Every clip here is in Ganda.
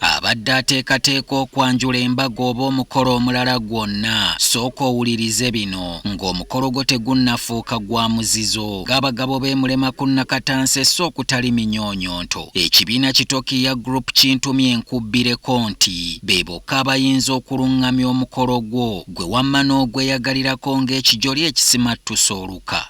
abadde ateekateeka okwanjula embaga oba omukolo omulala gwonna sooka owulirize bino ng'omukolo gwo tegunnafuuka gwa muzizo ng'abagabo beemulema ku nakatansi esse okutali minyoonyonto ekibiina kitokiya group kintumye enkubbireko nti be bokka abayinza okulungamya omukolo gwo gwe wamma n'ogweyagalirako ng'ekijoli ekisimattuse oluka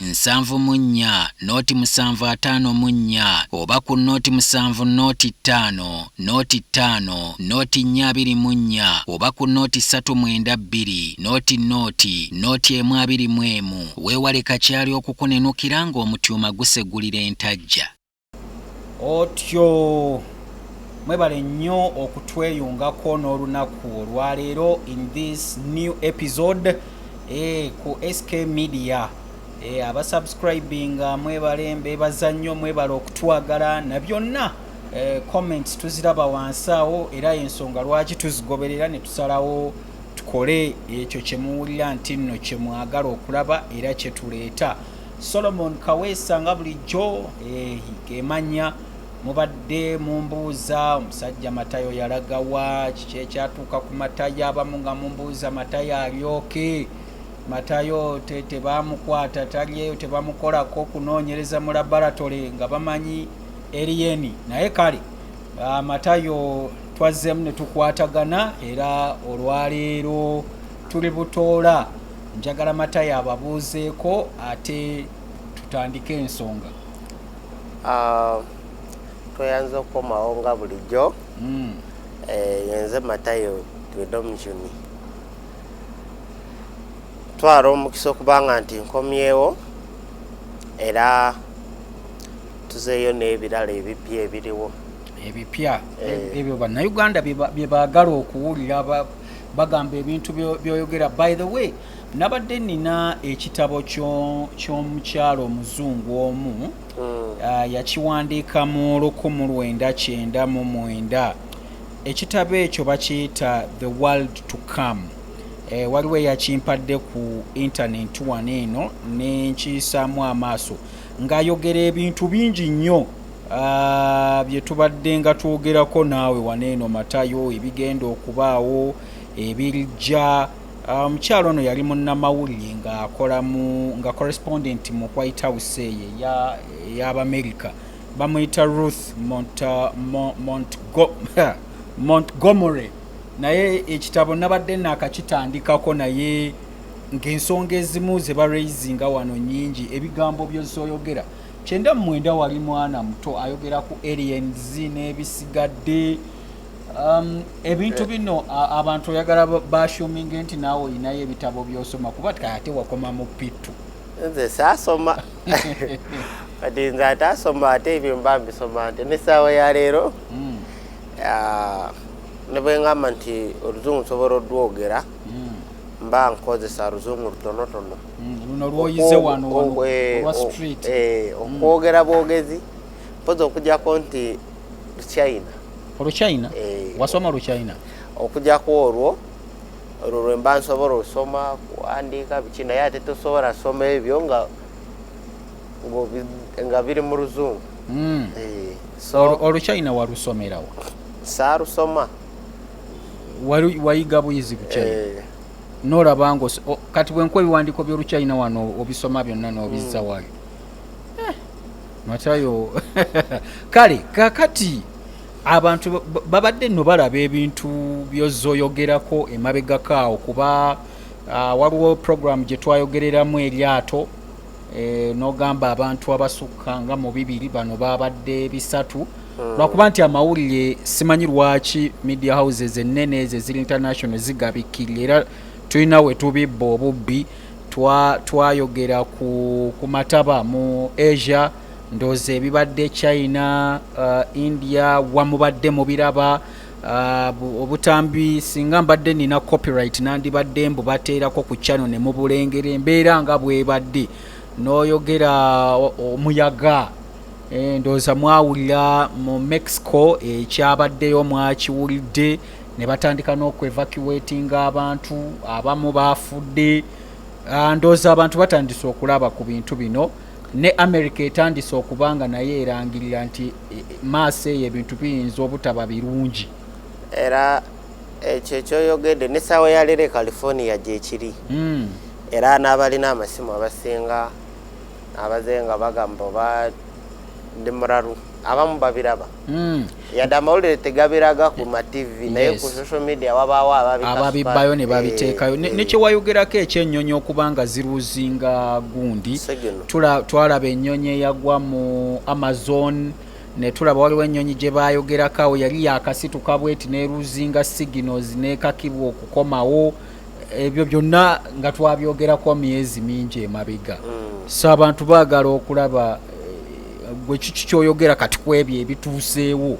nsanvu mu nnya nooti musanvu ataano mu nnya oba ku nooti musanvu nooti ttaano nooti ttaano nooti nnya abiri mu nnya oba ku nooti ssatu mwenda bbiri nooti nooti nooti emu abiri mu emu weewale kakyali okukunenukira ng'omutyuma gusegulira entajja. otyo mwebale nnyo okutweyungako n'olunaku olwaleero in this new episode eh, ku sk media eh, abasubscribinga mwebale mbebaza nnyo mwebale okutwagala na byonna eh, comments tuziraba wansi awo era ensonga lwaki tuzigoberera ne tusalawo tukole ekyo kyemuwulira nti nno kyemwagala okulaba era kyetuleeta Solomon Kaweesa nga bulijjo ehi kemanya mubadde mumbuuza omusajja matayo yalagawa kiki ekyatuuka ku matayo abamu nga mumbuuza matayo alyoke matayo tebamukwata talyeyo tebamukolako okunoonyereza mu laboratory nga bamanyi eriyeni naye kale ah, matayo twazzemu ne tukwatagana era olwaleero tuli butoola Njagala Matayo ababuuzeeko ate tutandike ensonga. Ah, tweyanza okukomawo nga bulijjo hmm. eh, yenze Matayo Twedomjuni twala omukisa okubanga nti nkomyewo era tuzeeyo n'ebirala ebipya ebiriwo ebipya eh. ebyo bannayuganda bye baagala okuwulira bagamba ebintu byoyogera by the way nabadde nina ekitabo ky'omukyalo omuzungu omu hmm. ah, yakiwandiika mu lukumu lwenda kyenda mu mwenda ekitabo ekyo bakiyita the world to come eh, waliwo eyakimpadde ku intaneti wano eno nenkiyisaamu amaaso ng'ayogera ebintu bingi nnyo Ah, bye tubadde nga twogerako naawe waneeno matayo ebigenda okubaawo ebijja ah, omukyalo ono yali munnamawulire ngaakola mu nga correspondent mu white house eyo ey'abamerica bamuyita ruth ah, montgomery naye ekitabo nabadde naakakitandikako naye ng'ensonga ezimu ze baraisinga wano nyingi ebigambo byozoyogera kyenda mu mwenda wali mwana muto ayogera ku aliens n'ebisigadde Um, ebintu eh. bino abantu oyagala bashuminge nti naawe olinayo ebitabo byosoma kuba ate wakoma mu pitu nze saasoma kati nze ate asoma ate ebyo mba mbisoma nti nesaawa ya leero hmm. nebwengamba nti oluzungu nsobola odwogera hmm. mba nkozesa luzungu lutonotono mm, eh, eh, mm. okwogera bwogezi mpozi okujako nti luchina oluchina eh. wasoma luchina okujako olwo olwo lwemba nsobola osoma kuwandiika biki naye ate tosobola soma ebyo nga nga biri mu luzungu mm. oluchina walusomerawo saarusoma wayiga buyizi bukyai eh. nolaba ngo kati bwenkuwa ebiwandiiko by'olukyayina wano obisoma byonna n'obizza mm. wayo eh, matayo kale kakati abantu babadde nno balaba ebintu byozoyogerako emabegakaawo kuba ah, waliwo puroguramu gye twayogereramu eryato e, nogamba abantu abasukka nga mu bibiri bano babadde bisatu hmm. lwakuba nti amawulire simanyi lwaki media houses ennene ezo eziri international zigabikkirira era tulina we tubibba obubbi twayogera twa ku, ku mataba mu asia ndoozi ebibadde china uh, india wamubadde mubiraba Ah, obutambi singa mbadde nina copyright nandibadde mbu bateerako ku chano ne mubulengera embeera nga bwebadde n'oyogera omuyaga eh, ndowooza mwawulira mu mexico ekyabaddeyo mwakiwulidde ne batandika n'okwevacuatinga abantu abamu baafudde ah, ndowooza abantu batandise okulaba ku bintu bino ne america etandise okuba nga naye erangirira nti maaso eyo ebintu biyinza obutaba birungi era ekyo ekyoyogedde ne saawa ya leero e california gyekiri hmm. era n'abalina amasimu abasinga abaze nga bagamba oba ndi muralu abamu babiraba hmm. yadde amawulire tegabiraga ku mativi naye ku social media wabaawo ababibbayo ne babiteekayo eh, eh. nekyewayogerako ekyenyonyi okuba nga ziruuzinga gundi twalaba ennyonyi eyagwa mu amazon netulaba waliwo ennyonyi gye baayogerako awo yali yakasituka bweti neruzinga signals nekakibwa okukomawo ebyo byonna nga twabyogerako myezi mingi emabega mm. so abantu baagala okulaba eh, gwe kiki kyoyogera kati ku ebyo ebituuseewo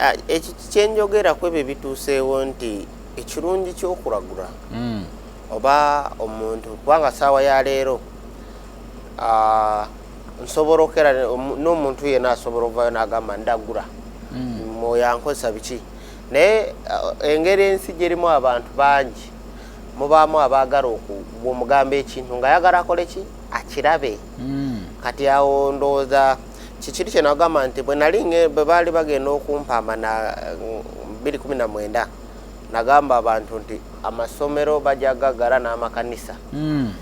ah, ekyo kyenjogera ku ebyo ebituuseewo nti ekirungi kyokulagula mm. oba omuntu kubanga saawa ya leero ah, nsobola okera n'omuntu yena asobola okuvayo nagamba ndagura mm. mwoyo ankozesa biki naye ah, engeri ensi gyerimu abantu bangi mubaamu abaagala okumugamba ekintu nga yagala akole ki akirabe mm. kati awo ndowooza kikiri kyenagamba nti bwenali bwe baali bagenda okumpaama na 219 nagamba abantu nti amasomero bajagagala n'amakanisa mm.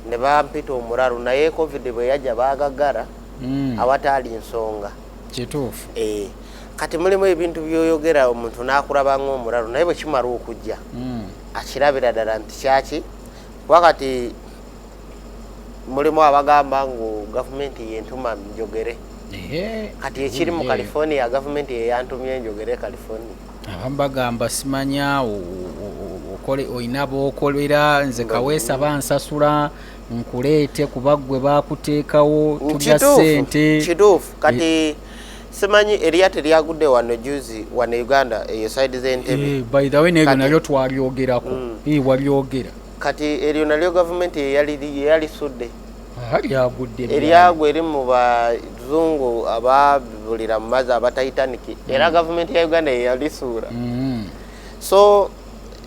ne bampita omuraru naye covid bwe yajja baagagara mm. awataali nsonga kituufu eh, kati mulimu ebintu byoyogera omuntu n'akulaba ng'omuraru naye bwe kimala okujja mm. akirabira ddala nti kyaki kuba kati mulimu abagamba ngu gavumenti yentuma njogere kati ekiri mu california gavumenti yeyantumye njogere california abamu bagamba simanya olina bokolera nze kaweesa bansasula nkuleete kuba gwe bakuteekawo tulya sente kituufu kati eh. simanyi eriya teryagudde wano juzi wano uganda eyo side zentebe eh, by the way nebyo nabyo twalyogerako mm. eh, walyogera kati eryo nalyo gavumenti yeyalisudde eryago eri mu bazungu ababulira mu mazi aba titanic era mm. gavumenti ya uganda yeyalisuula mm. so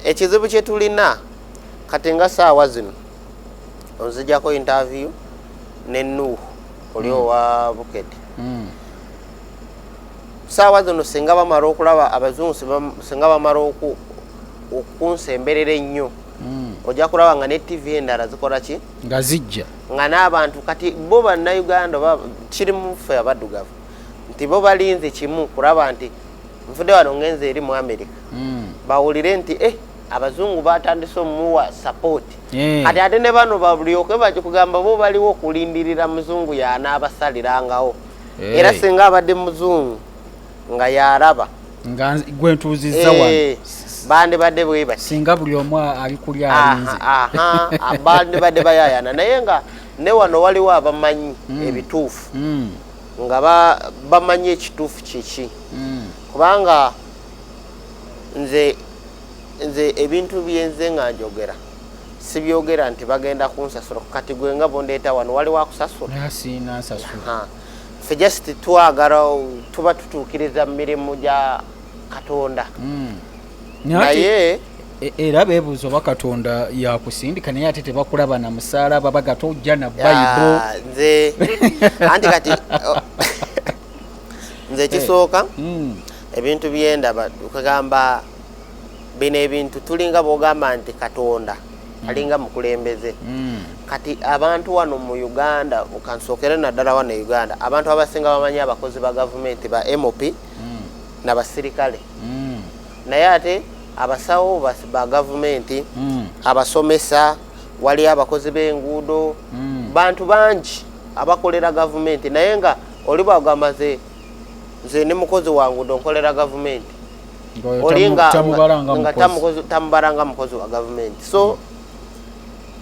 ekizibu kyetulina kati nga saawa zino onzijako interview ne nuuhu oli mm. owa bukete saawa zino singa bamala okulaba abazungu singa bamala okunsemberera ennyo ojja kulaba nga ne tv endala zikola ki nga zijja nga n'abantu kati bo bannayuganda oba kiri muffe abaddugavu nti bo balinze kimu kulaba nti nvude wano ngenza eri mu amerika hmm. bawulire nti e abazungu batandise omuwa sapooti eh. kati ate ne bano balyoke bakikugamba bo baliwo okulindirira muzungu yanaabasaliraangawo eh. era singa abadde muzungu nga yaraba nga gwe ntuuzizza wano eh, bandibadde bwebati singa buli omu ali kuli alinze bandibadde bayayana naye nga ne wano waliwo abamanyi hmm. ebituufu hmm. nga bamanyi ekituufu kiki hmm. kubanga nze nze ebintu byenze nga njogera sibyogera nti bagenda kunsasula kati gwe nga bondeeta wano waliwo akusasula fe just twagala tuba tutuukiriza mu mirimu gya katonda hmm. naye e, era bebuuza oba katonda yakusindika naye ate tebakulaba na musaala baba gata ojja na bayibo nze anti kati nze ekisooka eh. hmm. ebintu byendaba kugamba bino ebintu tulinga bwogamba nti katonda alinga mukulembeze mm. kati abantu wano mu uganda kansookere naddala wano e uganda abantu abasinga bamanyi abakozi ba gavumenti ba mop mm. nabasirikale mm. naye ate abasawo ba gavumenti abasomesa waliyo abakozi b'enguudo bantu bangi abakolera gavumenti naye nga oliba ogamba ze nze ne mukozi wanguudo nkolera gavumenti olinga tamubaranga mukozi wa gavumenti so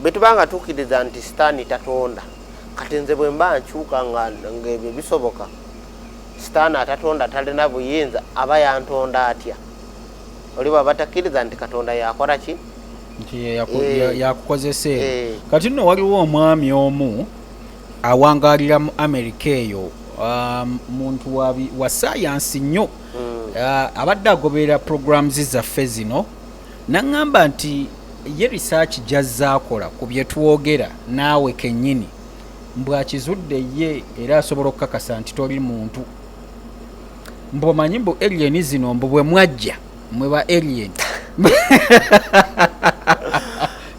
bwetuba nga tukiriza nti sitaani tatonda kati nze bwe mba nkyuka ngaebyo bisoboka sitaani atatonda talina buyinza aba yantonda atya oli bwaba takkiriza nti katonda yakora ki eh. yakukozesa eyo eh. kati nno waliwo omwami omu awangalira mu amerika eyo um, muntu wa sayansi nnyo mm. uh, abadde agoberera programs zaffe zino naŋŋamba nti ye risaaki gy'azzaakola ku bye twogera naawe kennyini mbwakizudde ye era asobola okukakasa nti toli muntu mbumanyi mbu alien zino mbu bwe mwajja mwe ba alien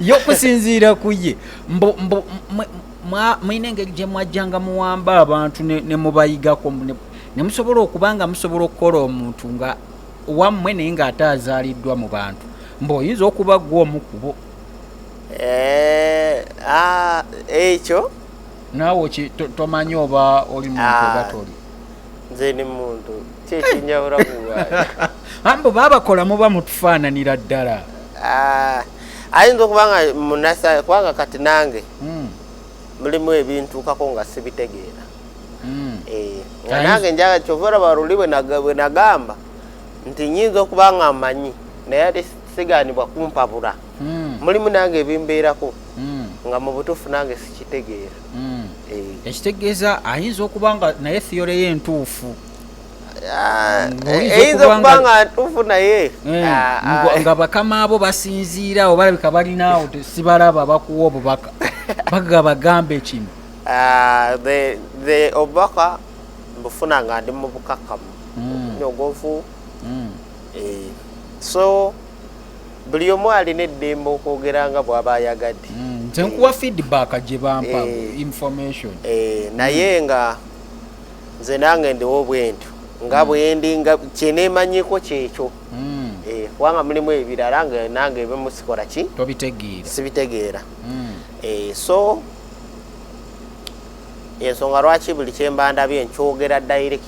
yokusinziira ku ye mulina engeri gye mwajjanga muwamba abantu ne mubayigako ne musobola okuba nga musobola okukola omuntu nga wammwe naye ng'ate azaaliddwa mu bantu mbu oyinza okuba gwa omu kubo eh, ah, ekyo naawe tomanyi oba oli muntu oba ah, toli nze ni muntu kyekinjawula kuambu babakola muba mutufaananira ddala ah, ayinza okuba nga munasa kubanga kati nange hmm. mulimu ebintuukako nga sibitegeera mm. eh, nga nange njaga kyova olaba luli bwe nagamba nti nyinza okuba nga mmanyi naye ate sigaanibwa kumpabula mm. mulimu nange ebimbeerako mm. nga mu butuufu nange sikitegeera eh. ekitegeeza ayinza okuba nga naye thiyole ye entuufu Ah, eyinza eh, okuba nga ntuufu naye eh, ah, ah. nga bakama abo basinziira awo balabika balinaawo sibalaba bakuwa obubaka bagaba gambe kino Ah, the the obubaka mbufuna nga ndi mu bukakamu Mm. nyogovu Mm. eh, so buli omu alina eddembe okwogera nga bw'aba ayagadde Mm. nze nkuwa feedback gye bampa Eh. information Eh, naye nga nze nange ndiwo bwentyo nga bwendi nga kyenemanyiko kyekyo Mm. Eh, kubanga mulimu ebirala nga nange ebimu sikola ki tobitegeera sibitegeera Mm. Eh, so yensonga lwaki buli kyemba ndabye nkyogera direct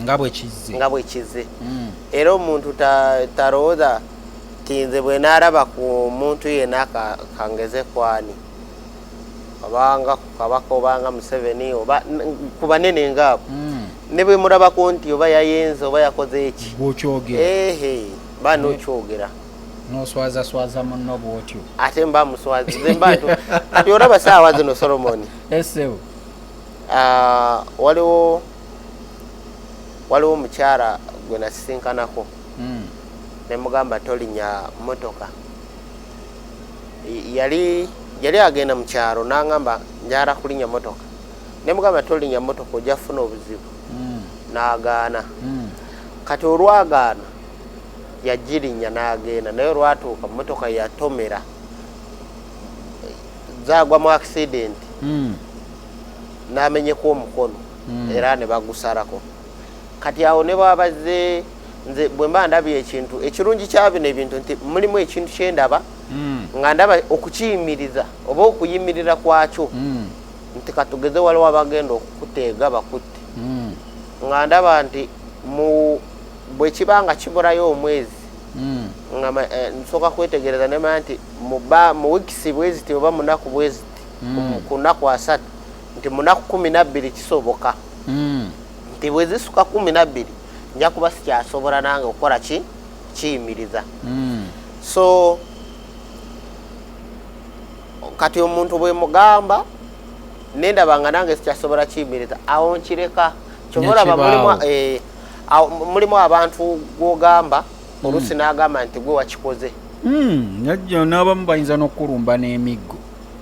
nga bwekizze nga bwekizze mm. era omuntu talowooza ta nti nze bwe naalaba ku muntu yena kangeze kwani obanga kukabaka obanga museveni oba ku banene ngaabo mm. ne bwe mulabaku nti oba yayenze oba yakoze eki bwokyogereehe banokyogera mm. noswazaswaza munno bwotyo ate mba muswazi nze mba ntu kati olaba saawa zino solomoni esewo ah, waliwo waliwo omukyala gwe nasisinkanako hmm. ne mugamba tolinya motoka yali yali agenda mu kyalo nangamba njala kulinya motoka ne mugamba tolinya motoka ojja kufuna obuzibu hmm. nagaana hmm. kati olwagaana yagirinya n'agenda naye olwatuuka mmotoka yatomera zagwa mu accident hmm. n'amenyeka omukono hmm. era ne bagusarako kati awo ne bwabazze nze bwe mba ndabye ekintu ekirungi kya bino ebintu nti mulimu ekintu kye ndaba hmm. nga ndaba okukiyimiriza oba okuyimirira kwakyo nti katugeze waliwo abagenda okukuteega bakutte nga ndaba nti mu bwekiba nga kiburayo omwezi hmm. nga eh, nsooka kwetegereza nemanya nti mu wikisi bweziti oba munaku bweziti hmm. ku naku asatu nti munaku kumi nabbiri kisoboka hmm. nti bwezisuka kumi nabbiri nja kuba sikyasobola nange okukola ki kiyimiriza so kati omuntu bwemugamba nendaba nga nange sikyasobola kiyimiriza awo nkireka kyobaolaba mulimu mulimu abantu gwogamba hmm. oluusi mm. n'agamba nti gwe wakikoze hmm, najjo n'abamu bayinza n'okukulumba n'emiggo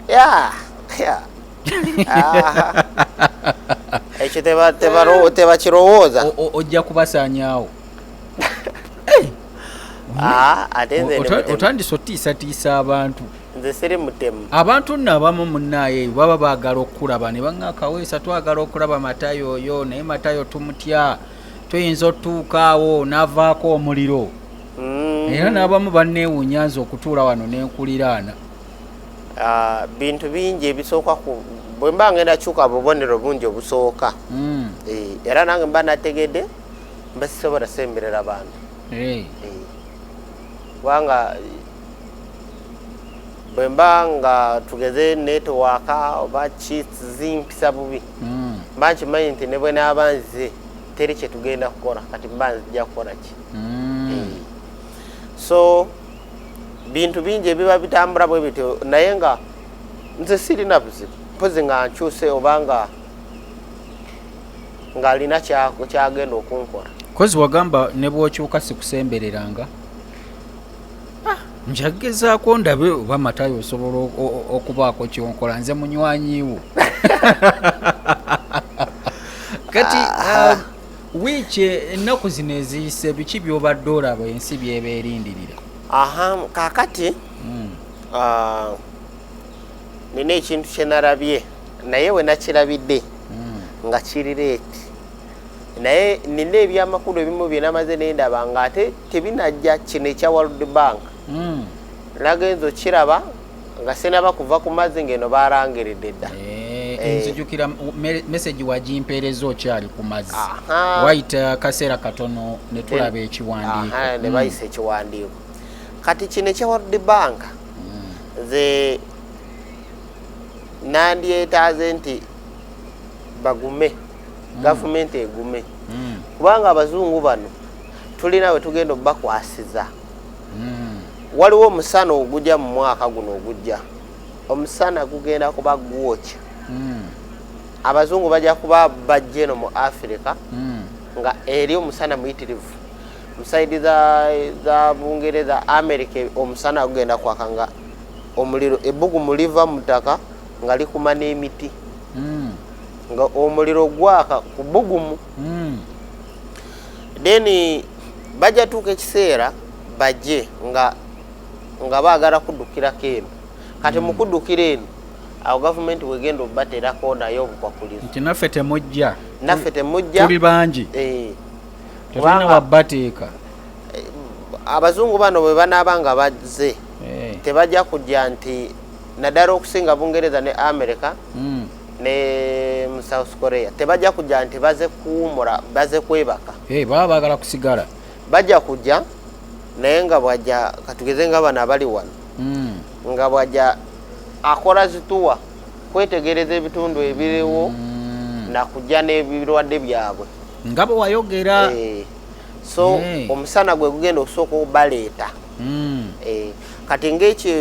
ya ya ekyo tebakirowooza ojja kubasaanyaawo ah, otandise otiisatiisa abantu nze siri mutemu abantu nno abamu munnaaye baba baagala okukulaba ne baŋa akaweesa twagala okulaba matayo oyo naye matayo tumutya tuyinza otutuukaawo n'avaako omuliro mm. era n'abamu banneewunya nze okutuula wano n'enkuliraana ah, bintu bingi ebisooka ku bwe mba ngenda kyuka bubonero bungi obusooka mm. eh, era nange mba nategedde mba sisobola semberera bantu eh. Eh. kubanga bwe mba nga tugeze netowaaka oba kizimpisa bubi hmm. mba nkimanyi nti ne bwe naaba nze teri kye tugenda kukola kati mba nzija kukola ki hmm. eh. so bintu bingi ebiba bitambula bwe bityo naye nga nze sirina buzibu mpozi nga nkyuse oba nga ng'alina kyagenda okunkola kozi wagamba ne bw'okyuka sikusembereranga ah, njagezaako ndabe oba matayo osobola okubaako kyonkola nze munywanyiwo kati ah. um, wiiki ennaku zino eziyise biki byobadde olaba ensi byeba erindirira aha kakati hmm. ah, nina ekintu kyenarabye naye wenakirabidde hmm. nga kirireeti naye nina ebyamakulu ebimu byenamaze nendaba nga ate tebinajja kino ekya world bank mm. nagenza okiraba nga sinaba kuva ku mazzi ngaeno barangiridde dda eh, eh. nzijukira mesagi wagimpeereza okyali ku mazzi wayita uh, kaseera katono netulaba ekiwandiiko nebayisa mm. ekiwandiiko kati kino ekya world bank nze mm. nandyetaaze nti bagume mm. gavumenti egume mm. kubanga abazungu bano tulina we tugenda obakwasiza mm. waliwo omusana ogujja mu mwaka guno ogujja omusana gugenda kuba gwokya mm. abazungu bajja kuba bajja eno mu afirika mm. nga eri omusana muyitirivu musaidi za bungereza amerika omusana gugenda kwaka nga omuliro ebbugumu liva mu ttaka nga likuma n'emiti mm. nga omuliro gwaka kubugumu mm. then bajja tuuka ekiseera bajje nga nga baagala kuddukirako eno kati mm. mukuddukira eno awo gavumenti wegenda obaterako naye obukwakulizo nti naffe temujja naffe temujja tuli bangi eh. tetulina wabbateeka eh, abazungu bano bwe banaaba nga bazze eh. tebajja kujja nti nadala okusinga bungereza ne america mm. ne mu south korea tebajja kujja nti baze kuwumula baze kwebaka hey, eh, baba bagala kusigala bajja kujja naye nga bwajja katugeze nga bano abali wano mm. nga bwajja akola zituwa kwetegereza ebitundu ebiriwo mm. nakujja n'ebirwadde byabwe nga bwe wayogera hey. Eh. so hey. Eh. omusana gwe gugenda okusooka obaleeta mm. eh, kati ngaekyo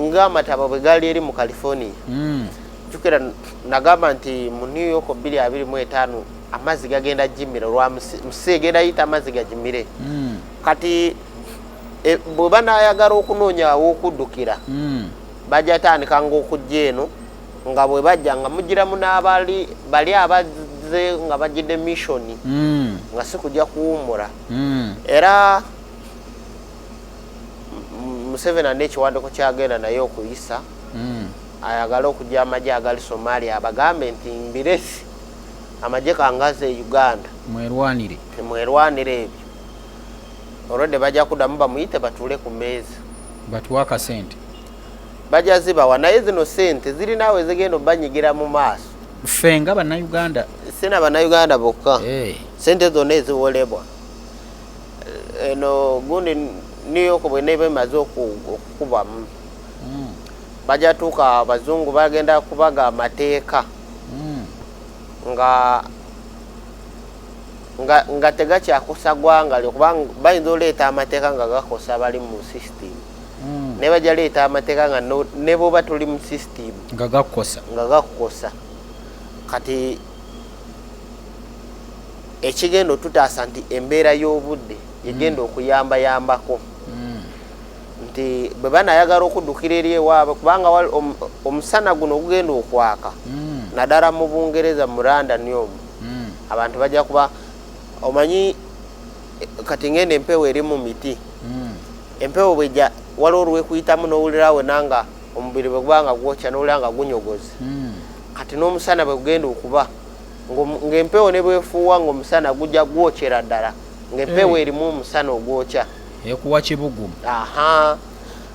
nga amataba bwe gaali eri mu california mm. jukira nagamba nti mu new york 225 amazzi gagenda jimire olwa musi egenda yita amazzi gajimire mm. kati e, bwe banayagala okunoonya awokuddukira mm. bajatandika ngaokujja eno nga bwe bajja nga mugiramu n'abali bali abazzi bazze nga bagidde missioni hmm. nga si kujja kuwummula hmm. era museveni alina ekiwanduko kyagenda naye okuyisa hmm. ayagala okujja amagye agali somalia abagambe nti mbiresi amagye kangazi e uganda mwerwanire mwerwanire ebyo olwedde bajja kudamu bamuyite batuule ku meeza batuwa akasente bajja zibawa naye zino sente zirinaawe zigenda obanyigira mu maaso ffe nga bannayuganda sina bannayuganda bokka eh. sente zonna eziwolebwa eno gundi new york bweneba emaze okukubamu hmm. bajatuuka abazungu bagenda kubaga amateeka hmm. nga nga tegakyakosa gwanga lyo kubanga bayinza oleeta amateeka nga gakosa bali mu system hmm. naye bajja leeta amateeka nga nebwoba tuli mu system nga gakukosa kati ekigenda otutaasa nti embeera y'obudde yegenda mm. okuyambayambako mm. nti bwe banayagala okuddukira eri ewaabwe kubanga omusana guno ogugenda okwaka mm. naddala mu bungereza mu london omu abantu bajja kuba omanyi kati ngenda empewo eri mu miti empewo bwejja waliwo olwekuyitamu n'owulirawe nanga omubiri bwe gubanga gwokya n'owulira nga gunyogozi kati n'omusana bwe gugenda okuba ng'empewo ne bwefuuwa ng'omusana gujja gwokyera ddala ng'empewo eh. erimu omusana ogwokya ekuwa kibugumu aha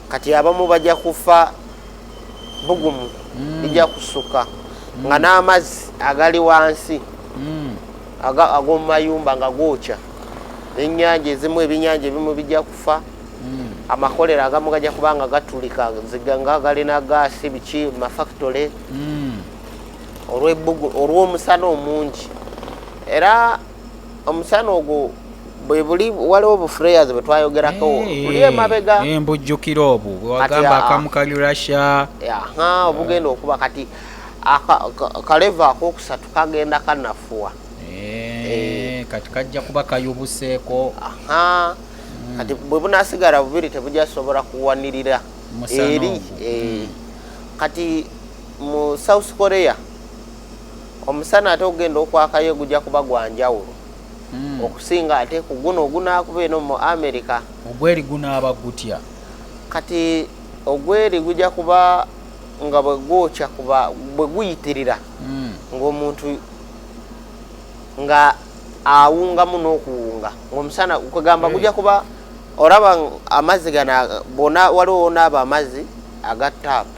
kati abamu bajja kufa bugumu hmm. ija kusuka hmm. nga n'amazzi agali wansi hmm. ag'omu mayumba nga gookya enyanja ezimu ebinyanja ebimu bijja kufa amakolero agamu gajja kuba nga gatulika ziga nga galina gaasi biki mafactory olw'omusana omungi era omusana ogwo bwebuli waliwo bufureyaz bwetwayogerako buli emabega embujjukira obwo bwewagamba akamu kali russia obugenda okuba kati kaleva akokusatu kagenda kanafuwa eh, kati kajja kuba kayubuseeko hmm. kati bwebunasigala bubiri tebujasobola kuwanirira eri eh. hmm. kati mu south korea omusana ate okugenda okwakayo gujja kuba gwa njawulo hmm. okusinga ate ku guno ogunaakuba eno mu amerika ogweri gunaaba gutya kati ogweri gujja kuba nga bwe gwokya kuba bwe guyitirira hmm. ng'omuntu nga awungamu n'okuwunga ng'omusana kwegamba hmm. gujja kuba olaba amazzi gana bona waliwo wonaaba amazzi aga taapu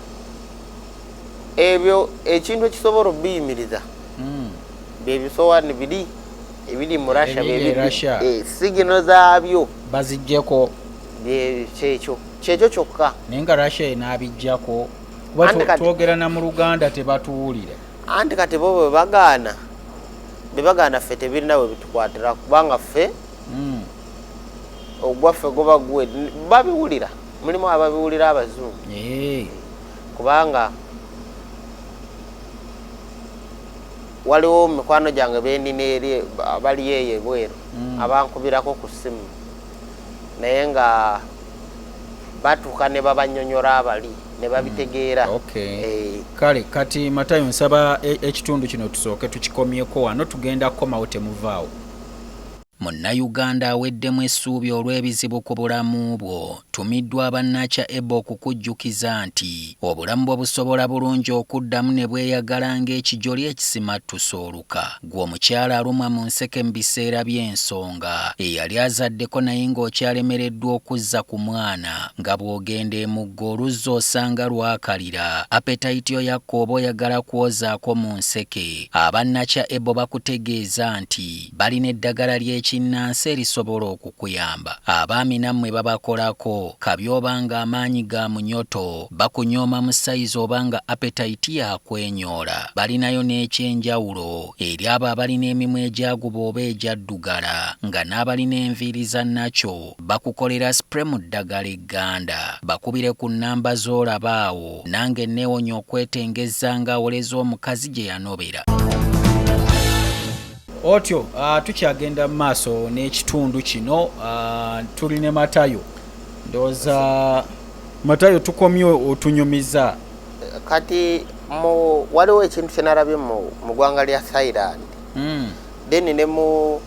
ebyo ekintu ekisobola obiyimiriza hmm. byebisowani biri ebiri mu russia eh, sigino zaabyo bazijjeko kyekyo kyekyo kyokka naye nga russia enabijjako kuba twogera na mu luganda tebatuwulira anti kati bo bwebagaana bebagaana ffe tebirina we bitukwatira kubanga ffe hmm. ogwaffe guba gwe babiwulira mulimu ababiwulira abazungu eh. kubanga waliwo mikwano gyange benina eri bali eyo ebweru mm. abankubirako ku ssimu naye nga batuuka ne babanyonyola abali ne babitegeera mm. eh. kale kati matayo nsaba e-, ekitundu kino tusooke tukikomyeko wano tugenda kukomawo temuvaawo Munnayuganda aweddemu essuubi olw'ebizibu ku bulamu bwo, tumiddwa aba Nacha Ebo okukujjukiza nti obulamu bwo busobola bulungi okuddamu ne bweyagala ng'ekijoli ekisimattuse oluka. Ggwe omukyala alumwa mu nseke mu biseera by'ensonga, eyali azaddeko naye ng'okyalemereddwa okuzza ku mwana, nga bw'ogenda e Mugga oluzzi osanga lwakalira, appetite yo yakka oba oyagala kwozaako mu nseke, aba Nacha Ebo bakutegeeza nti. Balina eddagala ly'ekinnansi erisobola okukuyamba. Abaami nammwe babakolako, kabyoba nga amaanyi ga munyoto, bakunyooma mu sayizi oba nga apetayiti yakwenyoola. Balinayo n'ekyenjawulo eri abo abalina emimwa egyaguba oba egyaddugala nga n'abalina enviiri za naco bakukolera spray mu ddagala egganda. Bakubire ku nnamba z'olaba awo. Nange nneewonye okwetengezza nga awoleza omukazi gye yanobera. otyo uh, tukyagenda mu maaso n'ekitundu kino uh, tuli ne matayo ndowooza matayo tukomye otunyumiza kati mu waliwo ekintu kyenalabye mu ggwanga lya thailand mm. then ne mu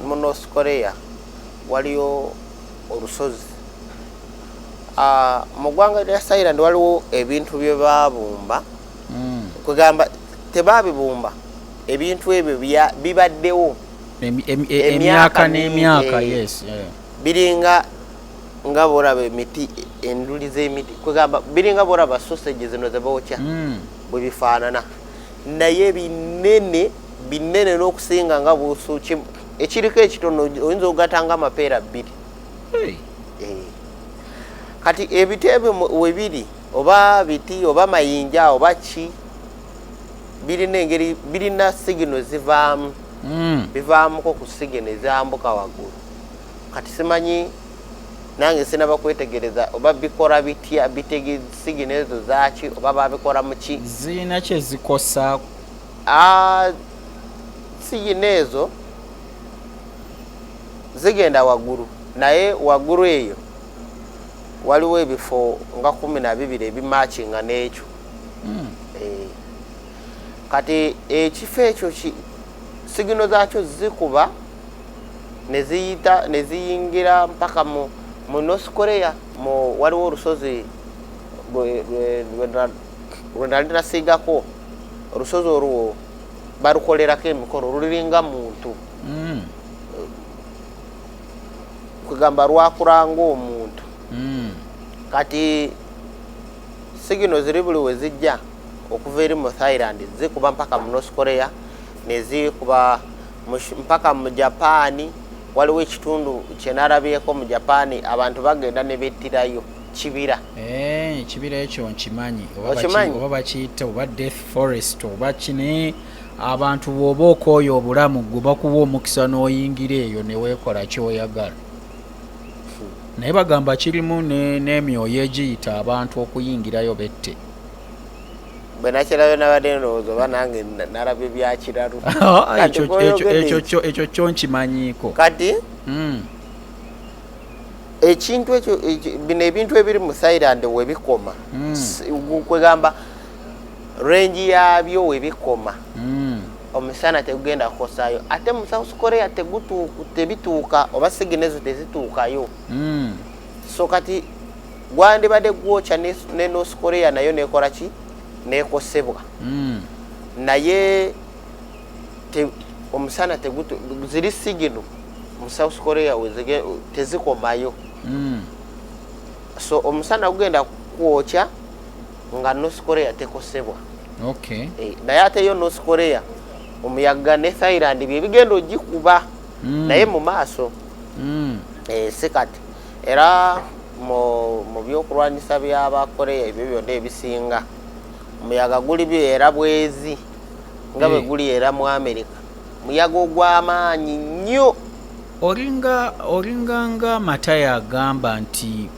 mu north korea waliyo olusozi ah, mu ggwanga lya thailand waliwo ebintu bye baabumba mm. kwegamba tebabibumba ebintu ebyo bibaddewo emyaka n'emyaka biringa nga boraba emiti enduli z'emiti kwegamba biringa boraba sosage zino zebokya mm. bwe bifaanana naye binene binene n'okusinga nga busu ekiriko ekitono oyinza okugata nga amapeera bbiri eh. kati ebiteebe webiri oba biti oba mayinja oba ki birina engeri birina sigino zivaamu hmm. bivaamuko ku sigino ezambuka waggulu kati simanyi nange sinaba kwetegereza oba bikora bitya bitege sigino ezo zaki oba babikora muki zirina kyezikosa ah, sigino ezo zigenda waggulu naye waggulu eyo waliwo ebifo nga kumi na bibiri ebimakinga n'ekyo hmm. eh, kati ekifo ekyo sigino zaakyo zikuba neziyita neziyingira mpaka mu mu north korea mu waliwo olusozi lwe nali nasiigako olusozi olwo balukolerako emikolo luliringa muntu mm. kwegamba lwakula ngaomuntu hmm. kati sigino ziri buli we zijja okuva eri mu thailand zikuba mpaka mu north korea nezikuba mpaka mu japaani waliwo ekitundu kyenarabyeko mu japaani abantu bagenda ne bettirayo kibira eh, ekibira ekyo nkimanyi oba bakiyita oba death forest oba kine abantu bwoba okooya obulamu gwe bakuwa omukisa n'oyingira eyo neweekola kyoyagala naye bagamba kirimu n'emyoyo egiyita abantu okuyingirayo bette bwe nakirayo nabadde ndowooza oba nange nalaba ebyakiralu ekyo kyo nkimanyiiko kati hmm. ekintu ekyo bino ebintu ebiri mu thailand webikoma hmm. kwegamba range yabyo webikoma mm. omusana tegugenda kukosayo ate mu south korea tebituuka oba sigina ezo tezituukayo mm. so kati gwandibadde gwokya ne north korea nayo nekola ki nekosebwa mm. naye te, omusana tegutu ziri sigino mu south korea tezikomayo mm. so omusana gugenda kwokya nga north korea tekosebwa okay. e, naye ate yo north korea omuyaga ne thailand byebigenda ogikuba mm. naye mu maaso mm. e, si kati era mu byokulwanyisa byabakoreya ebyo byonna ebisinga omuyaga guli era bwezi nga bwe guli era mu amerika muyaga ogw'amaanyi nnyo olinga olinga nga matayo agamba nti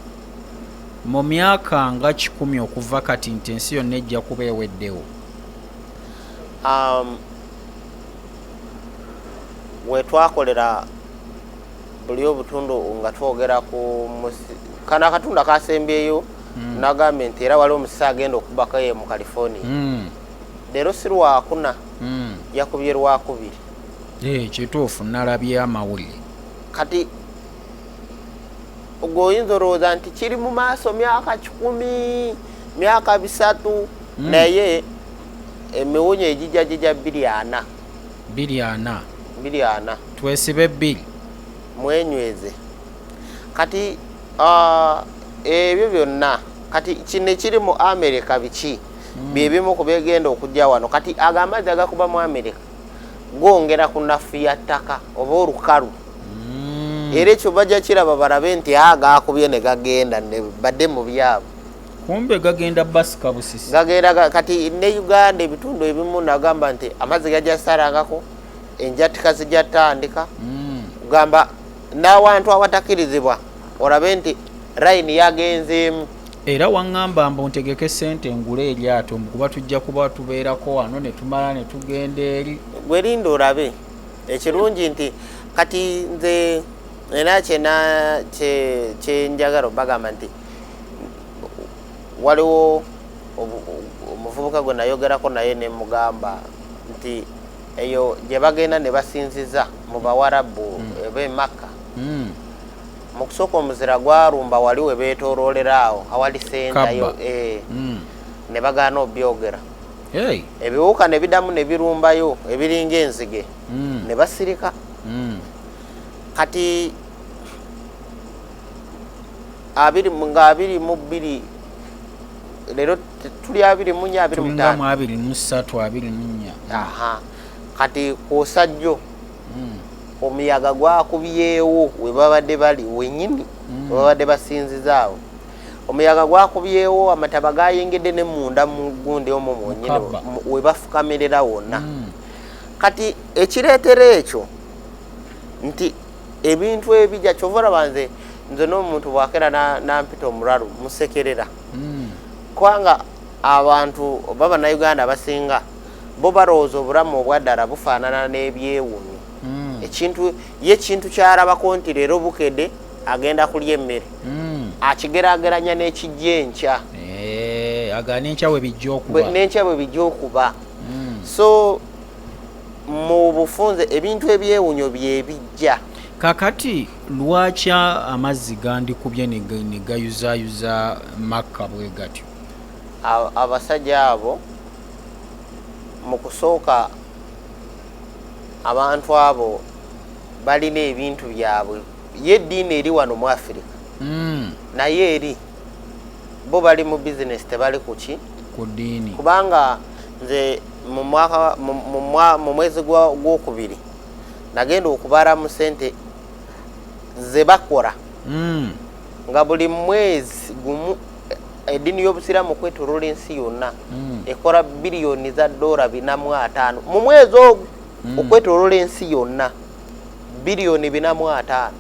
mu myaka nga kikumi okuva kati nti ensi yonna ejja kuba eweddewo um, wetwakolera buli obutundu nga twogera ku kano akatundu akasembyeyo mm. nagambye nti era waliwo omusisi agenda okubako ye mu california mm. leero si lwakuna mm. yakubye lwakubiri eh, kituufu nalabye amawulire kati ogwo oyinza olowooza nti kiri mu maaso myaka kikumi myaka bisatu hmm. naye emiwunyo egijja gijja biri ana biri ana biri ana twesibe biri mwenyweze kati ah, ebyo byonna kati kino ekiri mu amerika biki hmm. byebimu ku begenda okujja wano kati agamazzi agakuba mu amerika gwongera ku nafu ya ttaka oba olukalu mm. era ekyo bajja kiraba balabe nti a ah, gaakubye ne gagenda badde mu byabo kumbe gagenda basika busisi gagenda kati ne uganda ebitundu ebimu nagamba nti amazzi gajja sarangako enjatika zijja tandika mm. gamba n'awantu awatakirizibwa olabe nti rayini yagenzeemu era waŋŋamba mbu ntegeke ssente ngule eryato mbu kuba tujja kuba tubeerako wano ne tumala ne tugenda eri gwe linda olabe ekirungi nti kati nze era kyena kyenjagala obagamba nti waliwo omuvubuka gwe nayogerako naye ne mugamba nti eyo gye bagenda ne basinziza mu bawarabu mm. eba emakka mm. mu kusooka omuzira gwalumba wali we beetooloolera awo awali sentayo eh. hmm. ne bagaana obyogera ebiwuka ne bidamu ne birumbayo ebiringa enzige hmm. ne basirika hmm. kati abiri nga abiri mu bbiri leero tuli abiri munya abiri mutaano abiri musatu abiri munya kati kwosajjo hmm. omuyaga gwakubyewo webabadde bali wenyini hmm. webabadde basinzizaawo omuyaga gwakubyewo amataba gayingidde ne munda mu gundi omwo mwenyini webafukamirira wonna hmm. kati ekireetera ekyo nti ebintu ebija kyova olaba nze nze n'omuntu bwakera nampita omulalu musekerera kubanga abantu baba na uganda basinga bo balowooza obulamu obwaddala bufaanana n'ebyewuunyo hmm. ekintu ye ekintu kyalabako nti leero bukede agenda kulya emmere hmm. akigerageranya n'ekijja enkya eh, aga n'enkya bwe bijja okuba n'enkya bwe bijja okuba hmm. so mu bufunze ebintu ebyewunyo byebijja kakati lwaki amazzi gandikubye ne gayuzayuza makka bwe gatyo abasajja abo mu kusooka abantu abo balina ebintu byabwe ye eddiini eri wano mu afirika hmm. naye eri bo bali mu bizinesi tebali ku ki ku ddiini kubanga nze mu mwezi gwokubiri nagenda okubala mu sente ze bakola hmm. nga buli mwezi gumu eddiini y'obusiraamu okwetoloola ensi yonna mm. ekola biliyoni za doora binamu ataano mu mwezi ogwo mm. okwetoloola ensi yonna biliyoni binamu ataano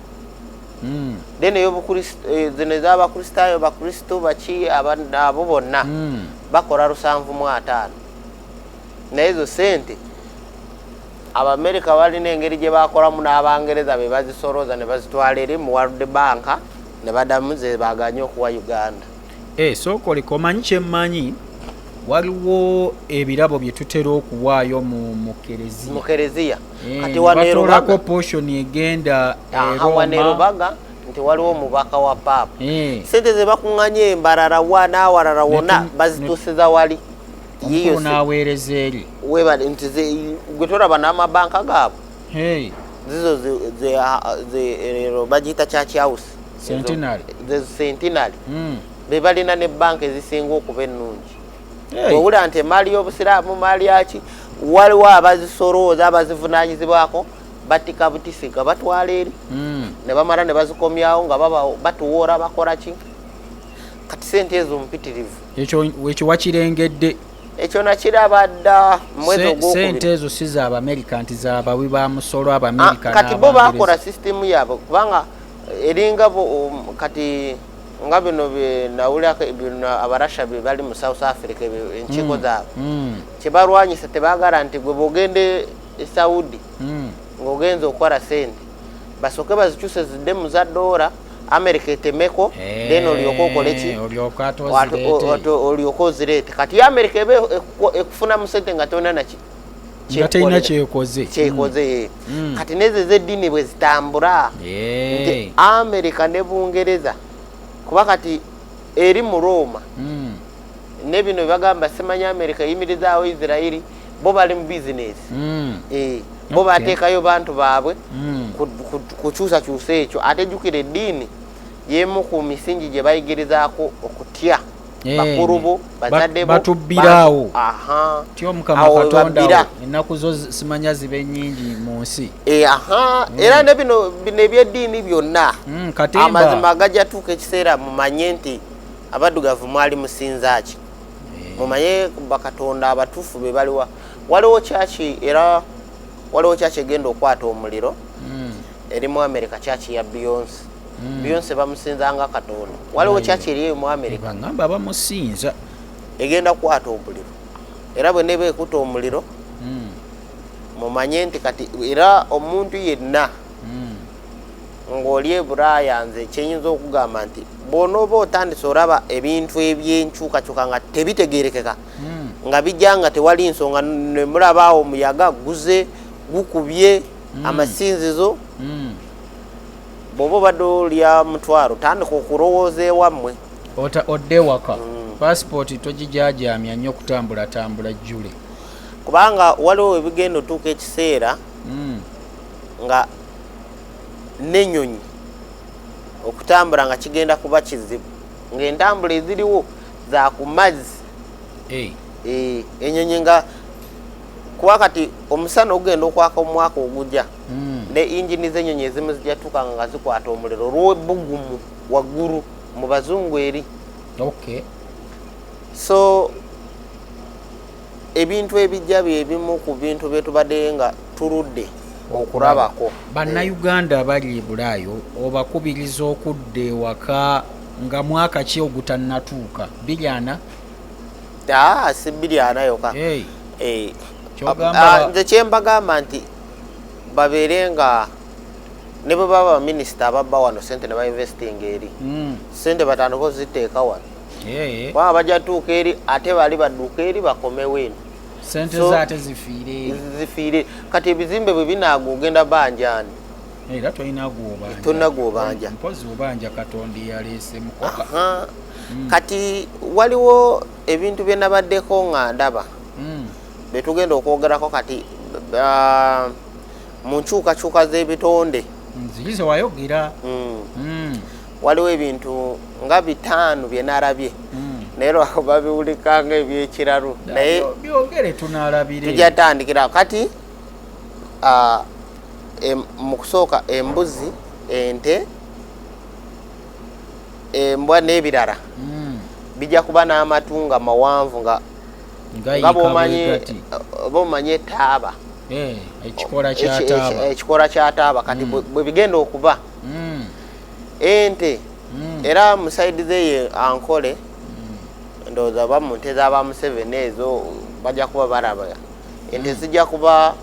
mm. then eh, zino ez'abakristaayo bakristo baki abo bonna bakola lusanvu mu ataano naye ezo sente abamerika balina engeri gye bakolamu n'abangereza be bazisolooza ne bazitwala eri mu world banka ne badamu ze baganye okuwa uganda eh, sooka oleka omanyi kyemmanyi waliwo ebirabo bye tutera okuwaayo mu kereziya eh, kati wanerubaga portion egenda wanerubaga nti waliwo omubaka wa paapa eh. sente ze bakuŋŋanya embarara wa n'awalala wona bazituusiza wali yiyo n'aweereza eri webale nti gwe tolaba n'amabanka gaabwe hey. zizo zero bagiyita church house centenary centenary mm. bebalina ne banka ezisinga okuba ennungi hey. owula nti emaali y'obusiraamu maali yaki waliwo abazisorooza abazivunanyizibwako batika butisi nga batwala eri mm. ne bamala ne bazikomyawo nga batuwoora bakoraki kati sente ezo mpitirivu ekyo wakirengedde ekyo nakiraba dda mwezi ogwokubiri ezo si za abamerika nti za bawi ba musolo abamerika ah, kati bo bakola sisitemu yaabwe kubanga eringa um, kati nga bino byenawulirako bino abarasha be bali mu south africa enkiiko mm, zaabwe mm. kyebalwanyisa tebagala nti gwe bogende e saudi mm. ngaogenza okukola sente basoke bazikyuse zidde mu za doora america etemeko eh, then olyoka okoleki olyoka ozireete kati america eba ekufuna mu sente nga tona naki ngatalina kyekoze kyekoze mm. mm. kati nezo ezeddiini bwe zitambula nti america ne bungereza kuba kati eri mu roma mm. ne bino bebagamba simanya america eyimirizaawo isirairi bo bali mu bizinesi mm. eh, bo bateekayo bantu baabwe mm. kukyusakyusa ekyo ate jjukira eddiini yemu ku misingi gye bayigirizaako okutya eh, bakulu bo bazadde batubbiraawo ti omukama katonda ennaku zo simanya ziba enyingi mu nsi eh, mm. era ne bino ebyeddiini byonna mm, amazima gajatuuka ekiseera mumanye nti abaddugavu mwali musinzaaki mumanye bakatonda abatuufu be baliwa waliwo kyaki era waliwo kyaki egenda okwata omuliro hmm. eri mu amerika kyaki ya beyonce hmm. beyonce bamusinza nga katonda waliwo kyaki eri mu amerika bagamba bamusinza egenda kukwata omuliro era bwe neba ekuta omuliro hmm. mumanye nti kati era omuntu yenna ng'oli e bulaaya nze kyeyinza okugamba nti bwonooba otandise olaba ebintu ebyenkyukakyuka nga tebitegerekeka hmm. nga bijja nga tewali nsonga nemulabaawo omuyaga guze gukubye hmm. amasinzizo hmm. bwoba obadde olya mutwaro tandika okulowooza ewammwe odde waka pasipooti togijajamya nnyo okutambulatambula jjule kubanga waliwo webigenda otuuka ekiseera nga n'ennyonyi okutambula nga kigenda kuba kizibu ng'entambula eziriwo za ku mazzi eh. Eh, ennyonyi nga kuba kati omusana ogugenda okwaka omwaka ogujja hmm. ne injini z'ennyonyi ezimu zijatuuka nga zikwata omuliro olw'obugumu waggulu mu bazungu eri so ebintu ebijja byebimu ku bintu byetubadde nga tuludde okulabako bannayuganda abali ebulaayo obakubiriza okudda ewaka nga mwaka ki ogutannatuuka biryana ah, si biryana yoka eh, ah, nze kyembagamba nti babeere nga ne bwe baba baminisita ababba wano sente ne bainvestinga eri hmm. sente batandika oziteeka wano baba bajja tuuka eri ate bali badduka eri bakomewo eno sente so, zaate zifiire zifiire kati ebizimbe bwe binaaga ogenda banjani era tolina gwobanja tolina gwobanja mpozi obanja katonda eyaleese mukoka mm. kati waliwo ebintu bye nabaddeko nga ndaba mm. bye tugenda okwogerako kati uh, mu nkyukakyuka z'ebitonde nziyize wayogera mm. mm. waliwo ebintu nga bitaano bye nalabye hmm. naye lwako babiwulikanga ebyekiralu naye byogere tunalabire tujja tandikira kati mu kusooka embuzi ente embwa n'ebirala hmm. bijja kuba n'amatu nga mawanvu nga nga bwomanyi etaaba eh, ekikora kyataaba kati hmm. bwe bigenda okuba ente mm. era musaidi zeye ankole mm. ndowooza ba mu nte zaba museveni ezo bajja kuba baraba ente mm. zijja kuba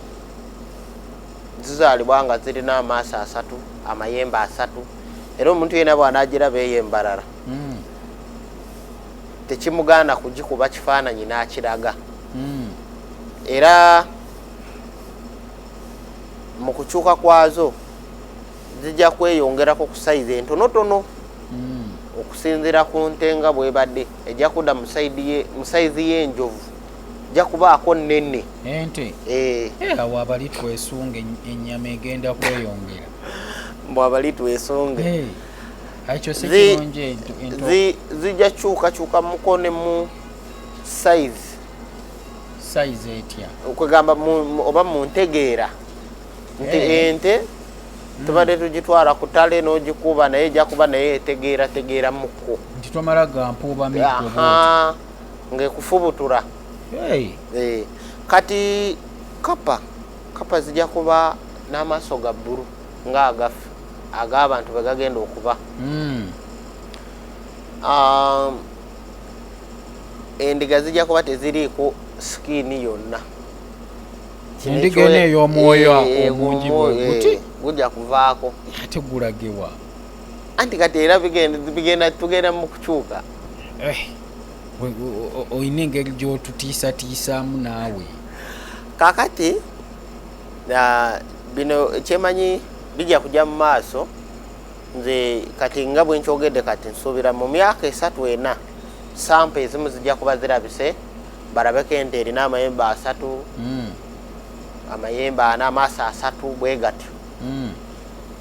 zizaalibwa nga zirina amaaso asatu amayembe asatu era omuntu yena bwanagiraba eyo embarara mm. tekimugaana kugikuba kifaananyi n'akiraga mm. era mu kukyuka kwazo zijja kweyongerako ku sayizi entonotono hmm. okusinzira ku nte nga bwebadde ejja kudda mu sayizi y'enjovu ejja kubaako nnene ente eh. Eh, awo abali twesunga ennyama egenda kweyongera mbu abali twesunga eh, zijja kyukakyuka mukone mu sayizi kwegamba oba mu ntegeera nti eh. ente hmm. tubadde tugitwala ku tale n'ogikuba naye ejja kuba naye etegeera tegeera mukko nti tomala gampuuba ng'ekufubutura eh. kati kapa kapa zijja kuba n'amaaso ga bbulu ng'agaffe ag'abantu be gagenda okuba hmm. um, endiga zijja kuba teziriiko sikiini yonna endiga eno ey'omwoyo omungi bweguti gujja kuvaako ate gulagewa anti kati era bigenda tugenda mu kukyuka eh, olina engeri gy'otutiisatiisaamu naawe kakati bino kyemanyi bijja kujja mu maaso nze kati nga bwenkyogedde kati nsuubira mu myaka esatu ena sampa ezimu zijja kuba zirabise barabeko ente erina amayembe asatu mm. amayembe ana amaaso asatu bwe gatyo mm.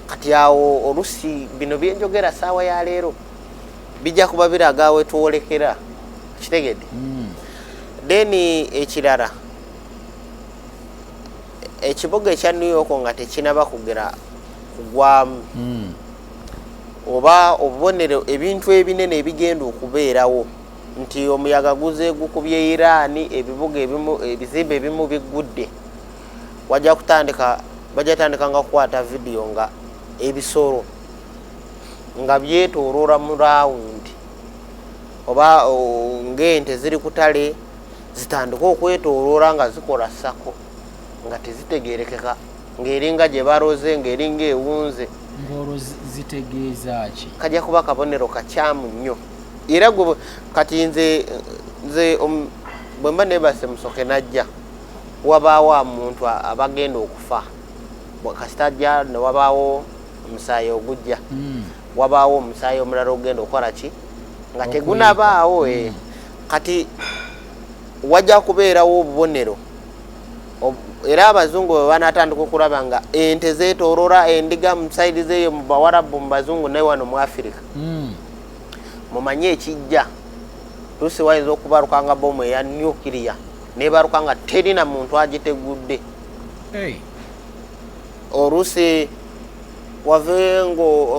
kati awo olusi bino byenjogera saawa ya leero bijja kuba biraga awetwolekera kitegedde mm. then ekirara ekibuga ekya new york nga tekinaba kugera kugwamu mm. oba obubonero ebintu ebinene ebigenda okubeerawo nti omuyaga guze gukubye iran ebibuga ebimu ebizimbe ebimu biggudde wajja kutandika bajja tandika nga kukwata vidiyo nga ebisolo nga byetoloola mu rawundi oba ngaente ziri kutale zitandika okwetoloola nga zikola sako nga tezitegerekeka ngaeringa gye baroze ngaeringa ewunze kajja kuba kabonero kakyamu nnyo era gwe kati nze nze um, bwe mba nebase musoke najja wabaawo amuntu abagenda okufa kasita ajja ne wabaawo omusaayi ogujja hmm. wabaawo omusaayi omulala ogenda okukola ki nga tegunabaawo e eh. hmm. kati wajja kubeerawo obubonero era abazungu bwe banatandika okulaba nga ente zetolora endiga musaidizeeyo mu bawarabu mu bazungu naye wano mu afirika hmm. mumanye ekijja lusi wayinza okubaluka nga bomu eya nuclear nebaluka nga teri na muntu agitegudde olusi wave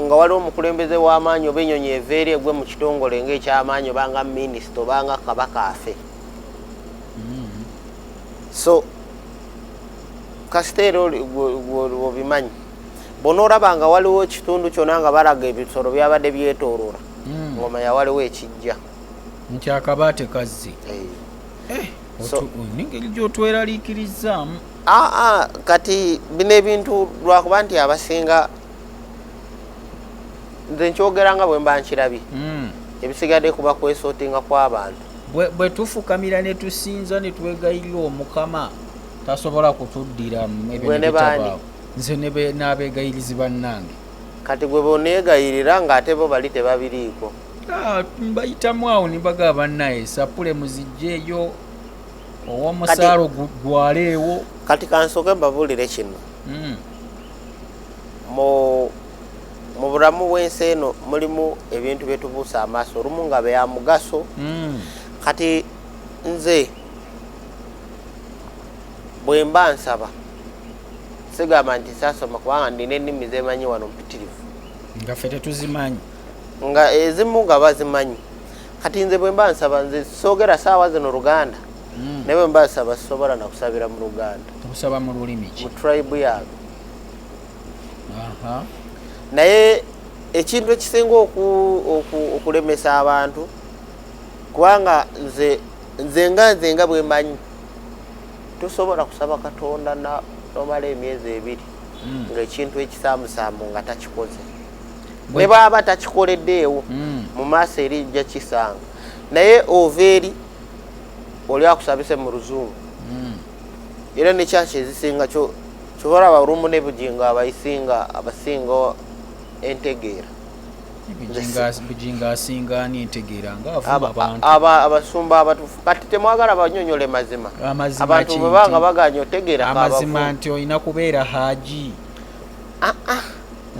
nga waliwo omukulembeze w'amaanyi oba enyonyi eveeri egwe mu kitongole nga ekyamaanyi obanga minisita obanga kabaka afe hmm. so kasiteera obimanyi bwonoolaba nga waliwo ekitundu kyona nga balaga ebisolo byabadde byetoolola hmm. ngomanya waliwo ekijja nti akaba tekazzi eh. nengeri gyotweraliikirizaamu aa kati bino ebintu lwakuba nti abasinga nze nkyogera nga bwe mba nkirabye hmm. ebisigadde kuba kwesootinga kw'abantu bwe tufukamira ne tusinza ne twegayirira omukama tasobola kutuddira mu ebintu bitabaawo nze n'abeegayirizi bannange kati gwe boneegayirira ng'ate bo bali tebabiriiko ah, mbayitamu awo nibaga bannaye sapule muzijjeeyo owomusaalo gwaleewo kati kansooke mbabuulire kino hmm. mu mu bulamu bw'ensi eno mulimu ebintu bye tubuusa amaaso olumu nga bya mugaso hmm. kati nze bwe mba nsaba sigamba nti sasoma kubanga ndina ennimi zemanyi wano mpitirivu nga fe tetuzimanyi nga ezimu nga bazimanyi kati nze bwemba nsaba nze sogera saawa zino luganda hmm. naye bwemba nsaba sisobola nakusabira mu luganda okusaba mu lulimi ki mu tribe yange naye ekintu ekisinga okulemesa abantu kubanga nze nze nga nze nga bwemanyi tosobola kusaba katonda nomala emyezi ebiri hmm. ngaekintu ekisaamusaamu nga takikoze ne baaba takikoleddeewo hmm. mu maaso eri jja kisanga naye ova eri oli akusabise mu luzungu hmm. era nekyaki ezisinga kyobalaba olumu nebugingo abayisinga abasinga entegeera bujinga asinga ani entegeera ngaabasumba abatufu kati temwagala banyonyole mazima abantu bwebanga baganya otegeera amazima nti olina kubeera haji ah, ah.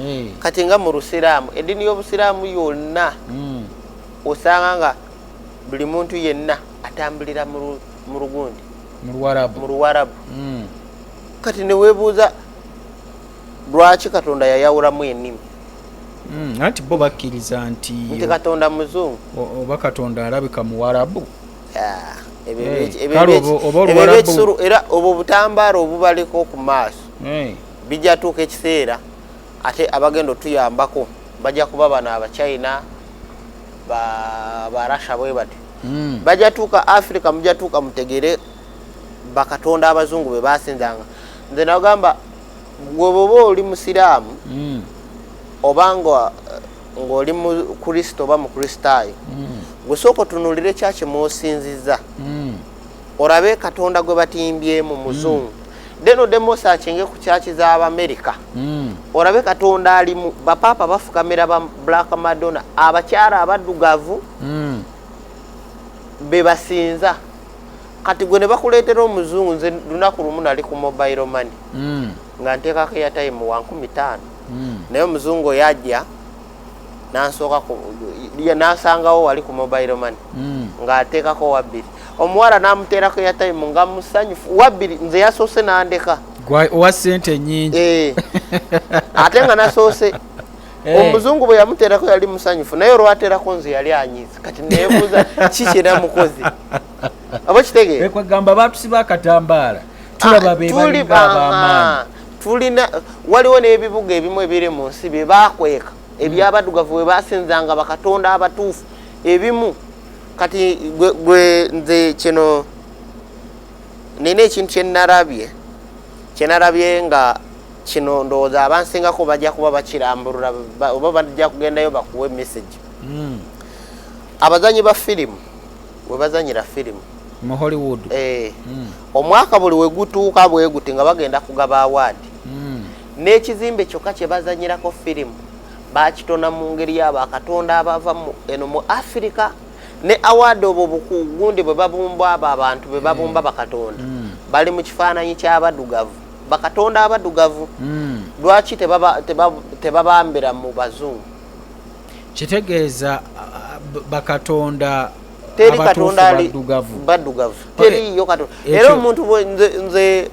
Eh. kati nga mu lusiraamu eddiini y'obusiraamu yonna hmm. osanga nga buli muntu yenna atambulira mu lugundi mu luwarabu hmm. kati newebuuza lwaki katonda yayawulamu enimi hmm, anti bo bakkiriza nti nti katonda muzungu oba katonda alabika muwarabu era obwo butambaala obubaleko ku maaso bijja tuuka ekiseera ate abagenda otuyambako bajja kuba bano abachina barasha bwe batyo hmm. bajja tuuka africa mujja tuuka mutegere bakatonda abazungu be basinzanga nze nagamba gwe bwoba oli musiraamu mm. oba ng'oli mukrisitu oba mukristaayo mm. gwe sooka otunulire kyaki mwosinziza mm. orabe katonda gwe batimbyemu mm. muzungu then odemu osakinge ku kyaki z'abamerika mm. orabe katonda alimu bapaapa bafukamira ba black madonna abakyala abaddugavu mm. bebasinza kati gwe nebakuleetera omuzungu nze lunaku lumu nali ku mobile money mm. nga nteekako eyatime wa nkumi taano mm. naye omuzungu oyo ajja nansooka nansangawo wali ku mobile money mm. ng'ateekako wabbiri omuwala namuteerako eyatime nga musanyufu wabbiri nze yasoose nandeka owa sente nyingi eh. ate nga nasoose eh. omuzungu bwe yamuteerako yali musanyufu naye olwateerako nze yali anyiiza kati nebuuza kiki namukozi abakitegeera ekwegamba batusiba akatambaala tulaba ah, bebalinga abamaanyi tulina waliwo n'ebibuga ebimu ebiri mu nsi bye bakweka ebyabadugavu bwe basinzanga bakatonda abatuufu ebimu kati gwe nze kino nina ekintu kyenarabye kyenarabye nga kino ndowooza abansingako bajja kuba bakirambulula oba bajja kugendayo bakuwe message hmm. abazanyi ba firimu webazanyira firimu mu hollywood eh. mm. omwaka buli wegutuuka bweguti nga bagenda kugaba awaadi mm. n'ekizimbe kyokka kyebazanyirako firimu bakitona mu ngeri yabo akatonda abava eno mu afirika ne awaadi obwo bukugundi bwe babumba abo abantu be babumba mm. bakatonda mm. bali mu kifaananyi ky'abadugavu bakatonda abadugavu mm. lwaki tebabambira mu bazungu kitegeeza bakatonda teri katonda ali baddugavu teriyo katonda era omuntu nze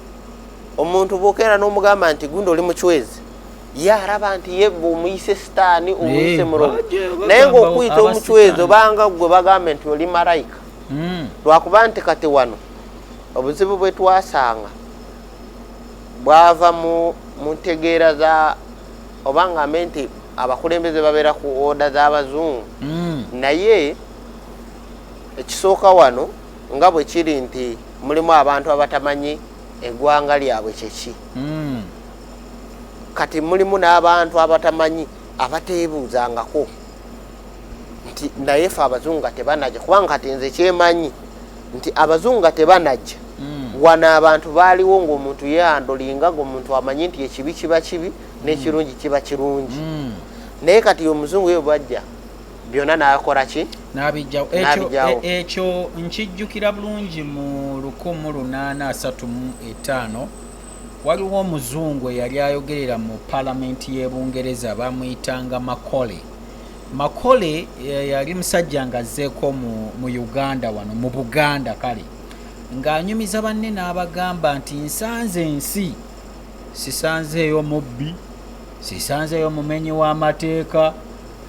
omuntu bwokeera n'omugamba nti gundi oli mucwezi ye araba nti ye omuyise sitaani omuyise mulogo naye ngaokuyita omucwezi obanga gwe bagambe nti oli malayika hmm. lwakuba nti kati wano obuzibu bwe twasanga bwava mu ntegeera za oba ngambe nti abakulembeze babeera ku oda z'abazungu mm. naye ekisooka wano nga bwe kiri nti mulimu abantu abatamanyi eggwanga lyabwe kyeki mm. kati mulimu n'abantu abatamanyi abateebuuzangako nti naye fe abazungu nga tebanajja kubanga kati nze kyemanyi nti abazungu nga tebanajja mm. wano abantu baaliwo ngaomuntu yeandolinga ngaomuntu amanyi nti ekibi kiba kibi nekirungi mm. kiba kirungi mm. naye kati omuzungu yo bajja byonna nakola ki nabijjawo e, ekyo nkijjukira bulungi mu lukumu lunaana asatu mu etaano waliwo omuzungu eyali ayogerera mu palamenti y'ebungereza bamuyitanga makole Makole eh, yali musajja nga azzeeko mu Uganda wano mu Buganda kale ng'anyumiza banne n'abagamba nti nsanze ensi sisanzeeyo mubbi sisanzeeyo mumenyi w'amateeka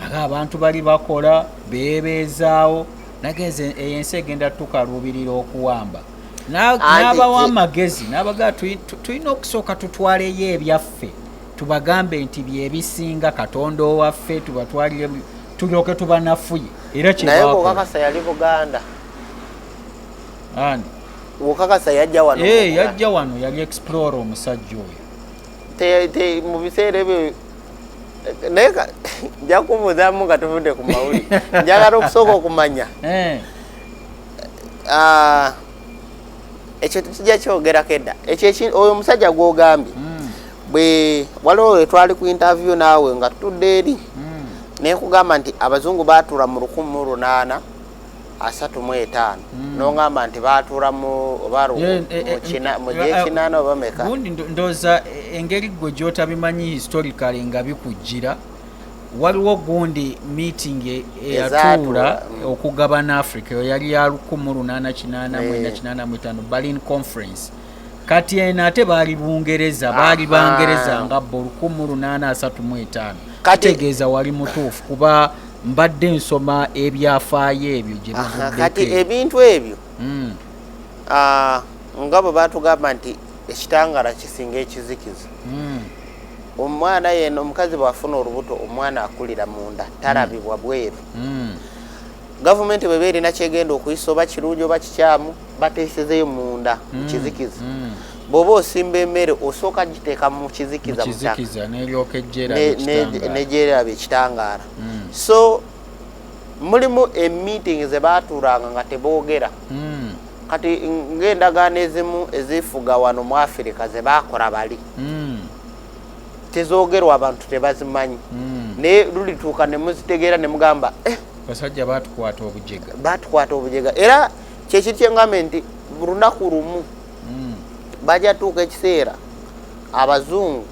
aga abantu bali bakola beebeezaawo nagenze eyo ensi egenda tukaluubirira okuwamba n'abawa amagezi n'abagaa tulina okusooka tutwaleyo ebyaffe tubagambe nti byebisinga katonda owaffe tubatwalire tulyoke tubanafuye era naye okakasa yali buganda ani okakasa yajja wano eh, yajja wano yali explore omusajja oyo mu biseera ebyo naye nja kubuuzamu nga tuvudde ku mawuli njagala okusooka okumanya eh. ah, ekyo tujja kyogerako edda ekyo oyo omusajja gwogambye hmm. bwe waliwo wetwali ku interview naawe nga tutudde eri hmm. nekugamba nti abazungu baatuula mu lukumi mu lunaana asatu mu etaano hmm. nongamba nti baatuula mu oba eh, eh, eh, mu gyekinaana oba meka ndooza engeri gwe gyotabimanyi historically nga bikujjira waliwo gundi meeting e-, eyatuula mm. okugabana africa eyo yali ya 1885 eh. berlin conference kati eno ate baali bungereza baali bangereza nga bo 1835 kitegeeza wali mutuufu kuba mbadde nsoma ebyafaayo ebyo gyebikati ebintu ebyo mm. ah, nga bwe batugamba nti ekitangala kisinga ekizikiza mm. omwana yena omukazi bwafuna olubuto omwana akulira munda talabibwa bweru mm. gavumenti bweba erina kyegenda okuyisa oba kirungi oba kikyamu bateesezeyo munda mm. mukizikiza mm. bwoba osimba emere osooka giteeka mukizikiza negyeraba ekitangaala so mulimu emeeting zebatuulanga nga teboogera kati ng'endagaano ezimu ezifuga wano mu afirika ze baakora bali hmm. tezoogerwa abantu tebazimanyi hmm. naye lulituuka ne muzitegeera ne mugamba eh, basajja batukwata obujega batukwata obujega era kyekiri kyengamba nti lunaku lumu hmm. bajja tuuka ekiseera abazungu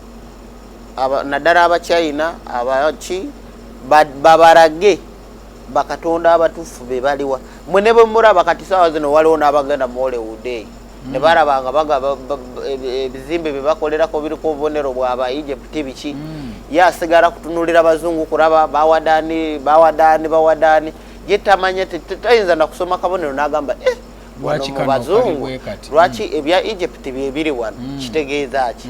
naddala abachina abaki babarage bakatonda abatufu bebaliwa mwe nebwemuraba kati sawa zino waliwo nabagenda muolewude mm. nebaraba nga baga ebizimbe byebakolerako biriko obubonero bwaba egypt biki mm. yasigala kutunulira bazungu kuraba bawadani bawadani bawadani yetamanya tayinza nakusoma kabonero nagamba eh, bazungu lwaki mm. ebya egypt byebiri wano kitegeeza ki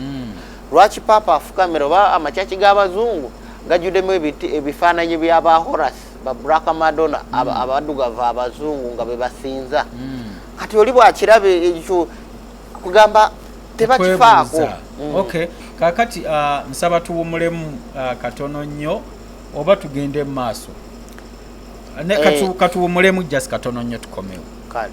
lwaki papa afukamira oba amakyaki g'abazungu gajjuddemu ebifaananyi bya ba horas ba black madonna hmm. abaddugavu abazungu nga bebasinza hmm. kati oli bwakiraba ekyo kugamba tebakifaako hmm. okay kakati uh, nsaba tuwumulemu uh, katono nnyo oba tugende mu maaso eh. katuwumulemu just katono nnyo tukomewo kale